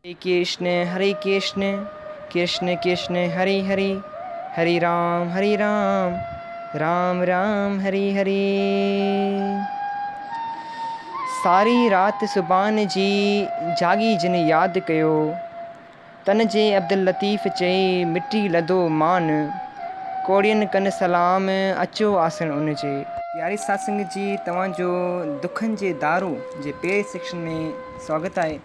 هري ڪرشن هري ڪرشن ڪرشن ڪرشن هري هري هري رام هري رام رام رام هري هري ساري رات سبحان جي جاڳي جن ياد ڪيو تن جي عبداللطيف چئي مٽي لڌو مان ڪوڙين ڪن سلام اچو آسڻ ان جي. پياري ساڌ سنگت جي توهان جو دکن جي دارو جي پهرين سيڪشن ۾ سواگت آهي.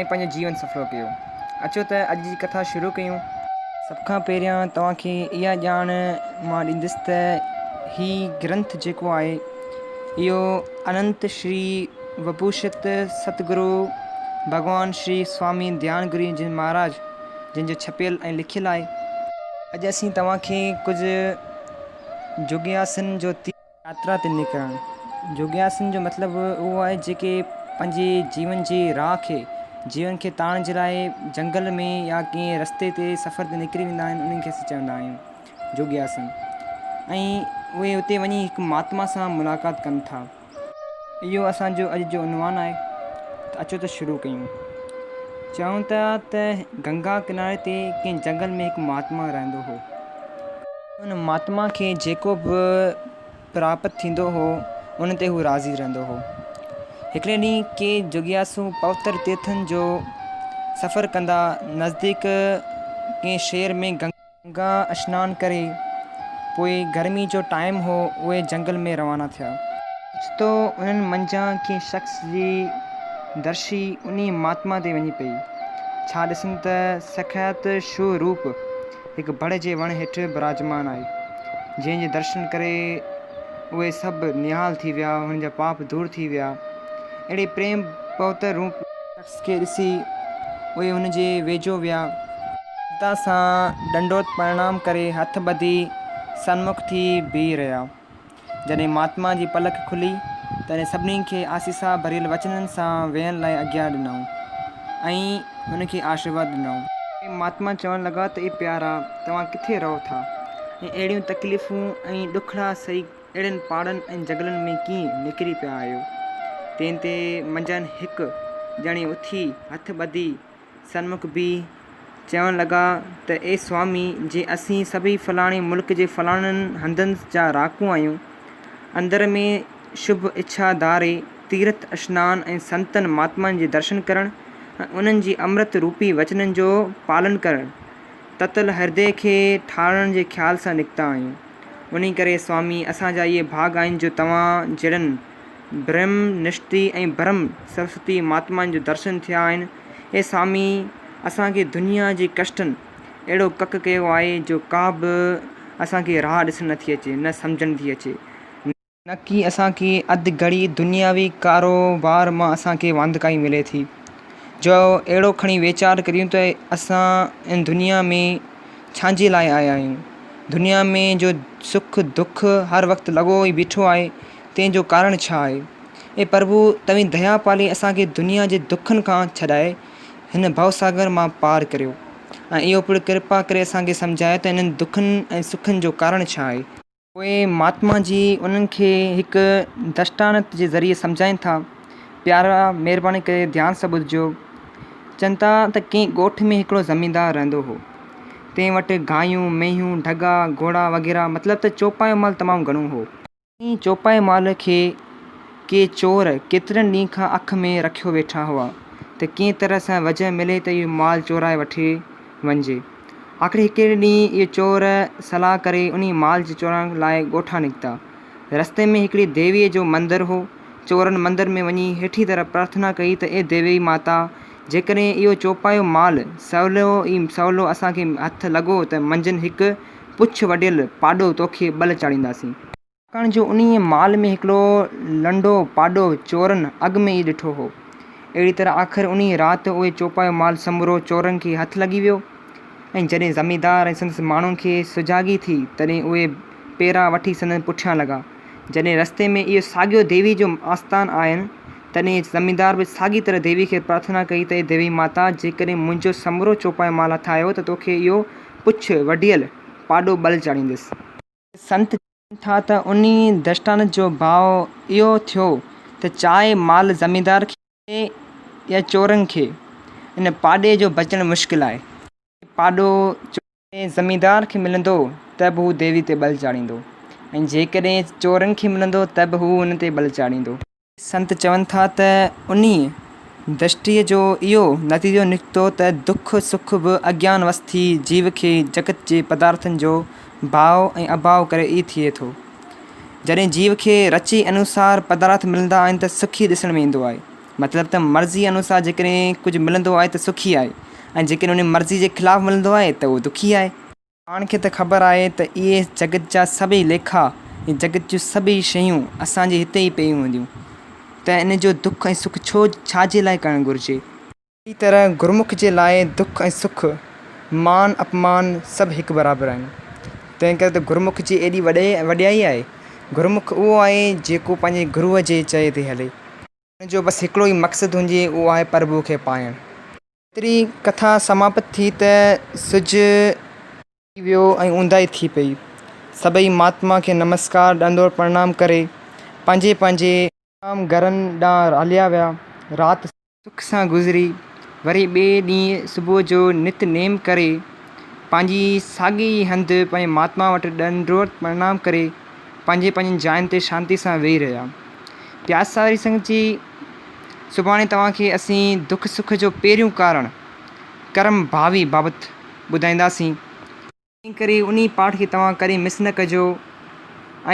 ۽ پنهنجو جيون سڦلو ڪيو. اچو ته اڄ جي ڪٿا شروع ڪيون. سڀ کان پهريان توهان کي اها ڄاڻ مان ڏيندس ته هي گرنٿ جيڪو آهي اهو اننت شري وڀوشت ست گرو ڀڳوان شري سوامي ڌيان گرو جي مهاراج جن جو ڇپيل ۽ لکيل آهي. اڄ اسين توهان کي ڪجهه جوڳياسن جو تير. ياترا تي نڪرڻ جوڳياسن جو مطلب اهو آهي جيڪي پنهنجي جيون جي راهه کي، جيون کي تاڻڻ جي لاء جهنگل ۾ يا ڪنهن رستي تي سفر تي نڪري ويندا آهن انهن کي اسين چوندا آهيون جوڳياسن ۽ اهي اتي وڃي هڪ مهاتما سان ملاقات ڪن ٿا. اهو اسان جو اڄ جو عنوان آهي ته اچو ته شروع ڪيون. چون ٿا ته گنگا ڪناري تي ڪنهن جهنگل ۾ هڪ مهاتما رهندو هو. ان مھاتما کي جيڪو به پراپت ٿيندو ھو، ان تي ھو راضي رھندو ھو. ھڪڙي ڏينھن ڪي جگياسو پوتر تيرٿن جو سفر ڪندا نزديڪ ڪنھن شھر ۾ گنگا. گنگا اشنان ڪري، پوء گرمي جو ٽائيم ھو، اھي جنگل ۾ روانا ٿيا. اوچتو انھن منجھان ڪنھن شخص جي درشي انھي مھاتما تي وڃي پئي. ڇا ڏسن ته سکيات شھو روپ، هڪ بڙ جي وڻ هيٺ براجمان آهي، جنهن جي درشن ڪري اهي سڀ نهال ٿي ويا، انهن جا پاپ دور ٿي ويا. اهڙي پريم پوتر روپ. شخص کي ڏسي اهي هن جي ويجهو ويا. ممتا سان ڏنڊوت پرڻام ڪري هٿ ٻڌي سنمک ٿي بيهي رهيا. جڏهن مهاتما جي پلڪ کلي، تڏهن سڀني کي آسيسا ڀريل وچنن سان ويهڻ لاء آجيا ڏنائون ۽ هن کي آشرواد ڏنائون. مهاتما چوڻ لڳا ته اي پيارا! توهان ڪٿي رهو ٿا ۽ اهڙيون تڪليفون ۽ ڏکڙا سهي اهڙين پاڙن ۽ جهنگلن ۾ ڪيئن نڪري پيا آهيو؟ تنهن تي منجهن هڪ ڄڻي اٿي هٿ ٻڌي سنمک بي چوڻ لڳا ته اي سوامي جي اسين سڀئي فلاڻي ملڪ جي فلاڻن هندن جا رهاڪو آهيون. اندر ۾ شڀ اڇا ڌاري تيرٿ اشنان ۽ سنتن مهاتمائن جي درشن ڪرڻ ۽ انهن جي امرت روپي وچنن جو پالن ڪرڻ تتل هردي کي ٺارڻ جي خيال سان نڪتا آهيون. انهي ڪري سوامي اسان جا اهي ڀاڳ آهن جو توهان جهڙن برھم نشتي ۽ برھم سرسوتي مھاتمائن جو درشن ٿيا آھن. اي سامي! اسان کي دنيا جي ڪشٽن اھڙو ڪڪ ڪيو آھي جو ڪا به اسان کي راھ ڏسڻ نٿي اچي نه سمجهڻ ٿي اچي. نڪي اسان کي اڌ گھڙي دنياوي ڪاروبار مان اسان کي واندڪائي ملي ٿي جو اھڙو کڻي ويچار ڪريون ته اسان ان دنيا ۾ ڇانجي لاء آيا آھيون. دنيا ۾ جو سک دک ھر وقت لڳو ئي بيٺو آھي. تنهن جو ڪارڻ ڇا آهي؟ اي پرڀو! توهين ديا پالي اسان کي دنيا جي دکن کان ڇڏائي هن ڀوساگر مان پار ڪريو ۽ اهو پڻ ڪرپا ڪري اسان کي سمجهايو ته انهن دکن ۽ سکن جو ڪارڻ ڇا آهي؟ پوء مهاتما جي انهن کي هڪ درشٽانت جي ذريعي سمجهائين ٿا، پيارا! مهرباني ڪري ڌيان سان ٻڌجو. چون ٿا ته ڪنهن ڳوٺ ۾ هڪڙو زميندار رهندو هو. تنهن وٽ گايون، مينهون، ڍڳا، گهوڙا وغيره مطلب ته چوپايو مال تمام گهڻو هو. ائين چوپائي مال کي ڪي چور ڪيترن ڏينهن کان اک ۾ رکيو ويٺا هئا ته ڪنهن طرح سان وجهه ملي ته اهو مال چورائي وٺي وڃجي. آخر هڪڙي ڏينهن اهي چور صلاح ڪري انهي مال جي چورائڻ لاء ڳوٺان نڪتا. رستي ۾ هڪڙي ديويء جو مندر هو. چورن مندر ۾ وڃي هيٺين طرح پرارٿنا ڪئي ته اي ديوي ماتا! جيڪڏهن اهو چوپايو مال سولو ئي سولو اسان کي هٿ لڳو ته منجهن هڪ پڇ وڍيل پاڏو توکي ٻل چاڙهينداسين. ڇاڪاڻ جو انهيء مال ۾ هڪڙو لنڊو پاڏو چورن اڳ ۾ ئي ڏٺو هو. اهڙيء طرح آخر انهيء رات اهو چوپايو مال سمورو چورن کي هٿ لڳي ويو ۽ جڏهن زميندار ۽ سندس ماڻهن کي سجاڳي ٿي تڏهن اهي پيرا وٺي سندن پٺيان لڳا. جڏهن رستي ۾ اهو ساڳيو ديوي جو آستان آين تڏهن زميندار به ساڳيء طرح ديوي کي پرارٿنا ڪئي ته اي ديوي ماتا جيڪڏهن منهنجو سمورو چوپايو مال هٿ آيو ته توکي اهو پڇ وڍيل پاڏو ٻل چاڙهينديس. سنت چون ٿا ته انهي درشٽان جو ڀاء اهو ٿيو ته چاهي مال زميندار کي ملي يا چورن کي، ان پاڏي جو بچڻ مشڪل آهي. جيڪڏهن پاڏو چورن ۽ زميندار کي ملندو ته به هو ديوي تي ٻل چاڙهيندو ۽ جيڪڏهن چورن کي ملندو ته به هو ان تي ٻل چاڙهيندو. سنت چون ٿا ته انهيء درشٽيء جو اهو نتيجو نڪتو ته دک سک به اگيان وس ٿي جيو کي جڳت جي پدارٿن جو ڀاء ۽ اڀاء ڪري ئي ٿئي ٿو. جڏهن جيو کي رچي انوسار پدارٿ ملندا آهن ته سک ئي ڏسڻ ۾ ايندو آهي. مطلب ته مرضيء انوسار جيڪڏهن ڪجهه ملندو آهي ته سکي آهي ۽ جيڪڏهن انهيء مرضيء جي خلاف ملندو آهي ته اهو دکي آهي. پاڻ کي ته خبر آهي ته اهي جڳت جا سڀئي ليکا ۽ جڳت جون سڀئي شيون اسان جي هتي ئي پيون هونديون ته ان جو دک ۽ سک ڇو ڇا جي لاء ڪرڻ گهرجي؟ اهڙي طرح گرمک جي لاء دک ۽ سک، مان اپمان سڀ هڪ برابر آهن. تنهن ڪري ته گرمک جي ايڏي وڏي وڏيائي آهي. گرمک اهو آهي جيڪو پنهنجي گروء جي چئي تي هلي. ان جو بس هڪڙو ئي مقصد هوندي اهو آهي پرڀوء کي پائڻ. ايتري ڪٿا سماپت ٿي ته سج ڊهي ويو ۽ اونداهي ٿي پئي. سڀئي مهاتما کي نمسڪار ڏندور پرڻام ڪري پنهنجي پنهنجي. آرام گهرن ڏانهن هليا ويا. رات. سک سان گذري. وري ٻئي ڏينهن صبح جو نت نيم ڪري پنهنجي ساڳي ئي هنڌ پنهنجي مهاتما وٽ ڏندور پرڻام ڪري پنهنجي پنهنجين جاين تي شانتي سان ويهي رهيا. پياساري سنگت جي. سڀاڻي توهان کي اسين دک سک جو پهريون ڪارڻ ڪرم ڀاوي بابت ٻڌائينداسين، تنهن ڪري انهي پاٺ کي توهان ڪڏهن مس نه ڪجو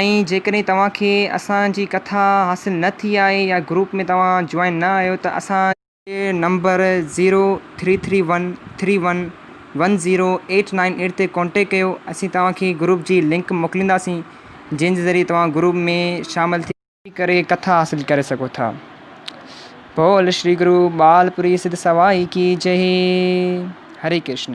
۽ جيڪڏهن توهان کي اسان جي ڪٿا حاصل نه ٿي آهي يا گروپ ۾ توهان جوائن نه آهيو ته اسان جي number zero three three one three one one zero eight nine eight تي ڪانٽيڪٽ ڪيو اسين توهان کي گروپ جي لنڪ موڪلينداسين جنهن جي ذريعي توهان گروپ ۾ شامل ٿي ڪري ڪري ڪٿا حاصل ڪري سگهو ٿا. بول شري گرو ٻال پوري سڌ سوائي ڪي جئي. هري ڪرشن.